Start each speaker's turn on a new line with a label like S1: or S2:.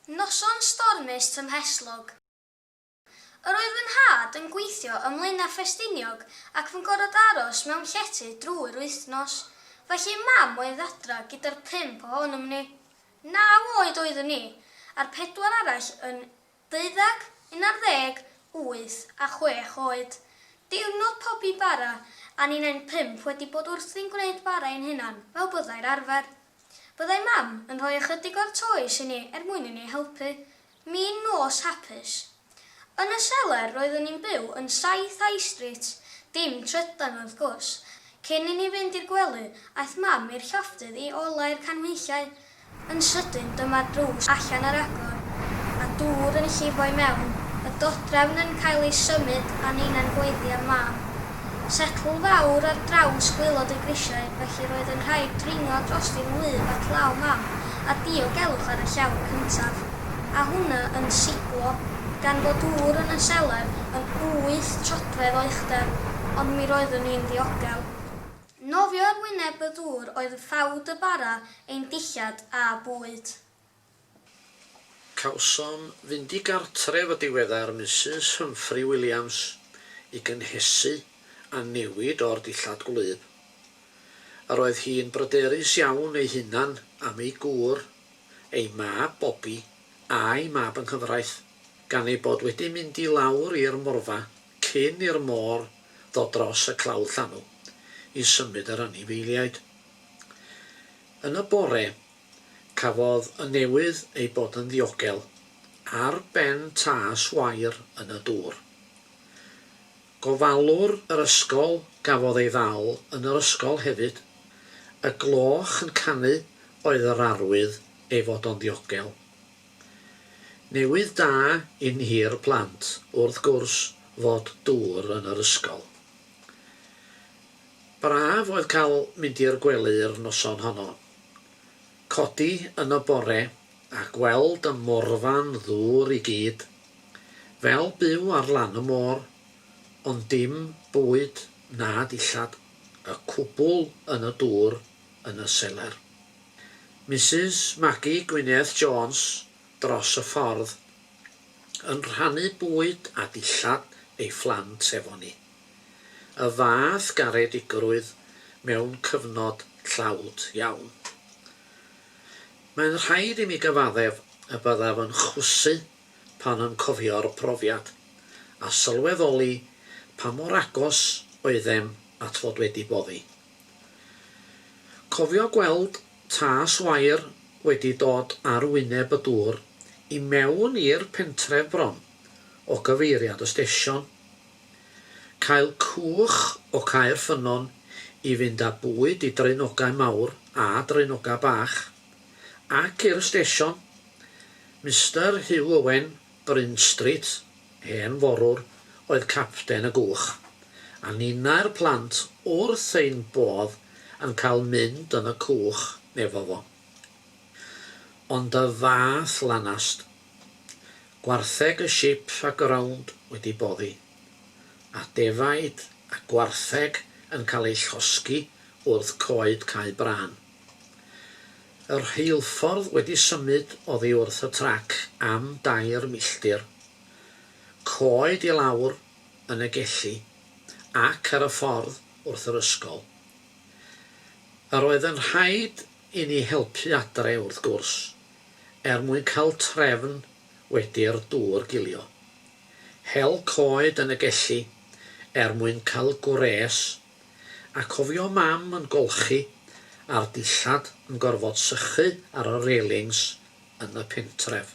S1: Noson stormus tymhestlog. Yr oedd fy nhad yn gweithio ym Mlaenau Ffestiniog ac fy ngorod aros mewn llety drwy'r wythnos. Felly mam oedd adra gyda'r pump ohonom ni. Naw oed oeddwn i, a'r pedwar arall yn Deuddeg, un ar ddeg, wyth a chwech oed. Diwrnod pobi i bara, a ni'n ein pump wedi bod wrthi'n gwneud bara ein hunan, fel byddai'r arfer. Byddai Mam yn rhoi ychydig o'r toes i ni er mwyn i ni helpu. Mi'n nos hapus. Yn y seler roeddwn i'n byw yn Saith High Street, dim trydan wrth gwrs. Cyn i ni fynd i'r gwely, aeth Mam i'r llofftydd i olau'r canhwyllau, Yn sydyn dyma'r drws allan ar agor, a dŵr yn llifo i mewn, y dodrefn yn cael ei symud a ninna'n gweiddi am mam. Setl fawr ar draws gwaelod y grisiau, felly roedd yn rhaid dringo drosti fy ngwlyb at law mam a diogelwch ar y llawr cyntaf, a hwnna yn siglo, gan fod dŵr yn y selar yn wyth troedfedd o uchder, ond mi roeddwn i'n ddiogel. Nofio ar wyneb y ddŵr oedd ffawd y bara, ein dillad a bwyd.
S2: Cawsom fynd i gartref y diweddar Misus Humphrey Williams i gynhesu a newid o'r dillad gwlyb. Yr oedd hi'n bryderus iawn ei hunan am ei gŵr, ei mab Bobby, a'i mab yng nghyfraith, gan ei bod wedi mynd i lawr i'r morfa cyn i'r môr ddod dros y clawdd llanw i symud yr anifeiliaid. Yn y bore, cafodd y newydd ei bod yn ddiogel ar ben tâs wair yn y dŵr. Gofalwr yr ysgol gafodd ei ddal yn yr ysgol hefyd. Y gloch yn canu oedd yr arwydd ei fod o'n ddiogel. Newydd da i ni'r plant wrth gwrs fod dŵr yn yr ysgol. Braf oedd cael mynd i'r gwely yr noson honno. Codi yn y bore a gweld y morfan ddŵr i gyd. Fel byw ar lan y môr, ond dim bwyd na dillad, y cwbl yn y dŵr yn y seler. Misus Maggie Gwyneth Jones dros y ffordd yn rhannu bwyd a dillad ei phlant efo ni. Y fath garedigrwydd mewn cyfnod tlawd iawn. Mae'n rhaid i mi gyfaddef y byddaf yn chwysu pan yn cofio'r profiad, a sylweddoli pa mor agos oeddem at fod wedi boddi. Cofio gweld tas wair wedi dod ar wyneb y dŵr i mewn i'r pentref bron o gyfeiriad y stesion. Cael cwch o Caer Ffynnon i fynd â bwyd i draenogau mawr a draenogau bach, ac i'r stesion. Mister Huw Owen Bryn Street, hen forwr, oedd capten y gwch, a ninnau'r plant wrth ein bodd yn cael mynd yn y cwch efo fo. Ond y fath lanast. Gwartheg y ship a ground wedi boddi, a defaid a gwartheg yn cael eu llosgi wrth coed Cae Brân. Y rheilffordd wedi symud oddi wrth y trac am dair milltir, coed i lawr yn y gelli ac ar y ffordd wrth yr ysgol. Yr oedd yn rhaid i ni helpu adre, wrth gwrs, er mwyn cael trefn wedi'r dŵr gilio. Hel coed yn y gelli er mwyn cael gwres A cofio mam yn golchi a'r dillad yn gorfod sychu ar y railings yn y pentref.